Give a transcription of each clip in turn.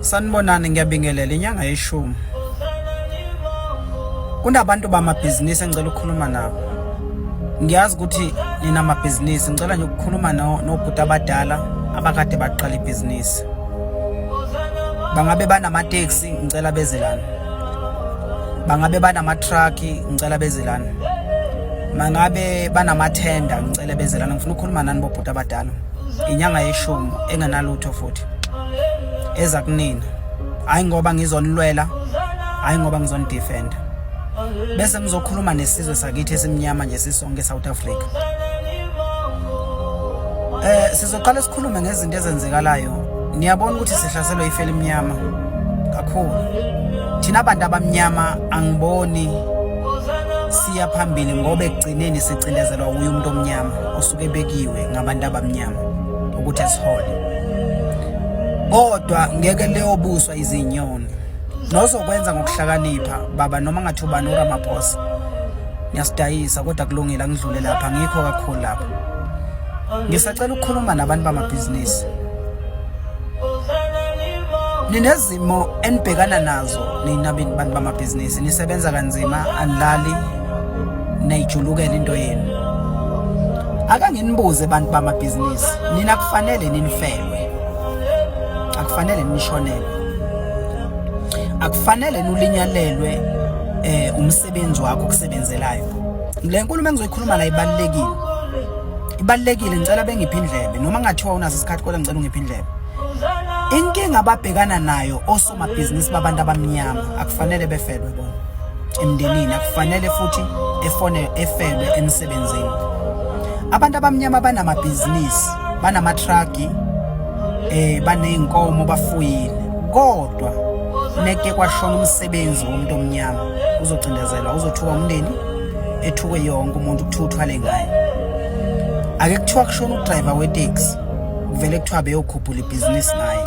Sanibonani ngiyabingelela inyanga yeshumi. Kunabantu bamabhizinisi engicela ukukhuluma nabo. Ngiyazi ukuthi nina mabhizinisi ngicela nje ukukhuluma nobhuti abadala abakade baqala ibhizinisi. Bangabe banamateksi ngicela bezelana. Bangabe banama-truck ngicela bezelana. Mangabe banamathenda ngicela bezelana ngifuna ukukhuluma nani bobhuti abadala. Inyanga yeshumi engenalutho futhi. eza kunina hayi ngoba ngizonilwela hayi ngoba ngizonidefenda bese ngizokhuluma nesizwe sakithi esimnyama nje sisonke eSouth Africa eh sizoqala sikhulume ngezinto ezenzekalayo niyabona ukuthi sihlaselwe ifeli emnyama kakhulu thina abantu abamnyama angiboni siya phambili ngoba ekugcineni sicindezelwa uye umuntu omnyama osuke bekiwe ngabantu abamnyama ukuthi asihole kodwa ngeke leyobuswa izinyoni nozokwenza ngokuhlakanipha baba noma ngathi ubani uramaphosa ngiyasidayisa kodwa kulungile angidlule lapha ngikho kakhulu lapha ngisacela ukukhuluma nabantu bamabhizinisi ninezimo enibhekana nazo nina bantu bamabhizinisi nisebenza kanzima anilali nayijulukela into yenu akanginibuze abantu bamabhizinisi nina kufanele ninifelwe akufanele nishonelwe akufanele nulinyalelwe eh umsebenzi wakho okusebenzelayo le nkulumo engizoyikhuluma la ibalekile ibalekile ngicela bengiphi indlebe noma ngathiwa unaso isikhathi kodwa ngicela ungiphi indlebe inkinga ababhekana nayo amabhizinisi babantu abamnyama akufanele befelwe bona emndenini akufanele futhi efone efelwe emsebenzini abantu abamnyama banamabhizinisi banamatrucki eh baneyinkomo bafuyile kodwa neke kwashona umsebenzi womuntu omnyama uzocindezelwa uzothuka umndeni ethuke yonke umuntu kuthiwa uthwale ngayo ake kuthiwa kushona udriver weteksi kuvele kuthiwa beyokhuphula ibhizinisi naye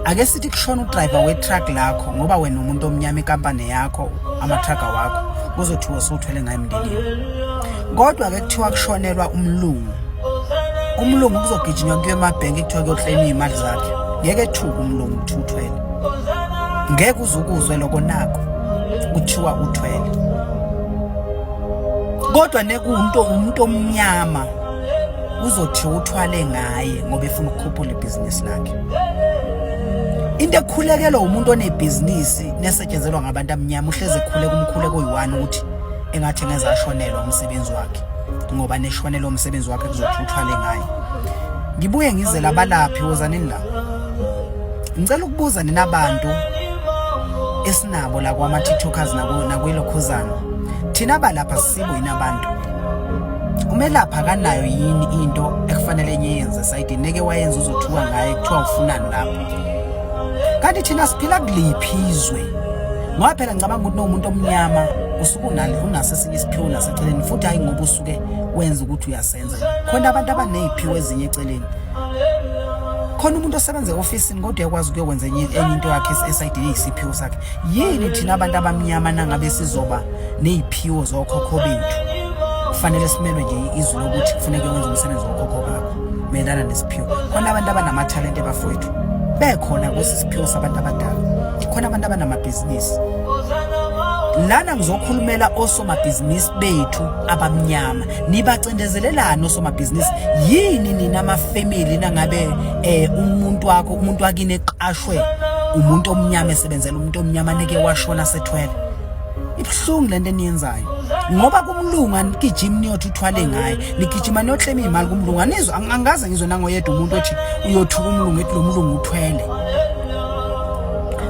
ake sithi kushona udriver wetruck lakho ngoba wena umuntu omnyama ikampani yakho amatrucka wakho kuzothiwa usuthwele ngayo emndenini kodwa ke kuthiwa kushonelwa umlungu umlungu kuzogijinywa kuyo emabhenki kuthiwa kuyokleniwa imali zakhe ngeke thuka umlungu ukuthi uthwele ngeke uzukuzwe lokho nako kuthiwa uthwele kodwa nekuwumuntu umuntu omnyama uzothi uthwale ngaye ngoba efuna ukukhuphula ibhizinisi lakhe into ekhulekelwa umuntu onebhizinisi nesetshenzelwa ngabantu abamnyama uhleze ekhuleka umkhuleko oyi-one ukuthi engathi ngeze ashonelwa umsebenzi wakhe ngoba neshonelwa umsebenzi wakhe kuzothi uthwale ngaye ngibuye ngizele abalaphi wozanini la ngicela ukubuza nina bantu esinabo la kwama-tiktokers nakwilokhuzana thina balapha simo yini abantu umelaphi akanayo yini into ekufanele enye yenze sayidini neke wayenza uzothuka ngaye kuthiwa ufunani lapho kanti thina siphila kuliphi izwe ngoba phela ngicabanga ukuthi nomuntu omnyama usuke unale unaso esinye isiphiwo naseceleni futhi hayi ngoba usuke wenza ukuthi uyasenza khona abantu abaneyiphiwo ezinye eceleni khona umuntu osebenza e-ofisini kodwa yakwazi ukuyokwenza enye into yakhe esayidini eyisiphiwo sakhe yini thina abantu abamnyama nangabe sizoba neyiphiwo zokhokho bethu kufanele simelwe nje izwi lokuthi kufuneke wenze umsebenzi wokhokho bakho mayelana nesiphiwo khona abantu abanamathalente bafowethu bekhona kwesi siphiwo sabantu abadala khona abantu abanamabhizinisi lana ngizokhulumela osomabhizinisi bethu abamnyama nibacindezelelani osomabhizinisi yini nina amafamily nangabe eh umuntu wakho umuntu wakini eqashwe umuntu omnyama esebenzela umuntu omnyama neke washona sethwele ibuhlungu lento eniyenzayo ngoba kumlungu anigijimi niyothi uthwale ngaye nigijima niyohlema iy'mali kumlungu anizwa angaze ngizwe nangoyedwa umuntu othi uyothuka umlungu ethi lo mlungu uthwele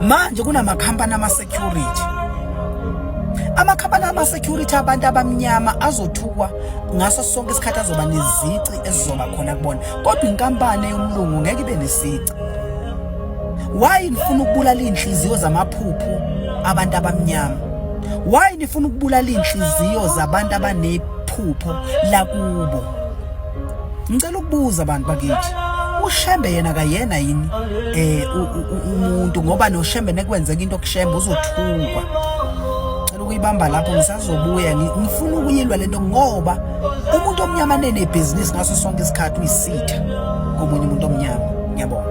manje kunamakhampani ama-security amakhampani ama-security abantu abamnyama azothukwa ngaso sonke isikhathi azoba nezici ezizoba khona kubona kodwa inkampani yomlungu ngeke ibe nesici Why nifuna ukubulala inhliziyo zamaphuphu abantu abamnyama? Why nifuna ukubulala inhliziyo zabantu abanephupho lakubo? Ngicela ukubuza abantu bakithi. ushembe yena kayena yini eh umuntu ngoba noshembe nekwenzeka into kushembe uzothukwa ngicela ukuyibamba lapho ngisazobuya ngifuna ukuyilwa lento ngoba umuntu omnyama nenebhizinisi ngaso sonke isikhathi uyisitha komunye umuntu omnyama ngiyabonga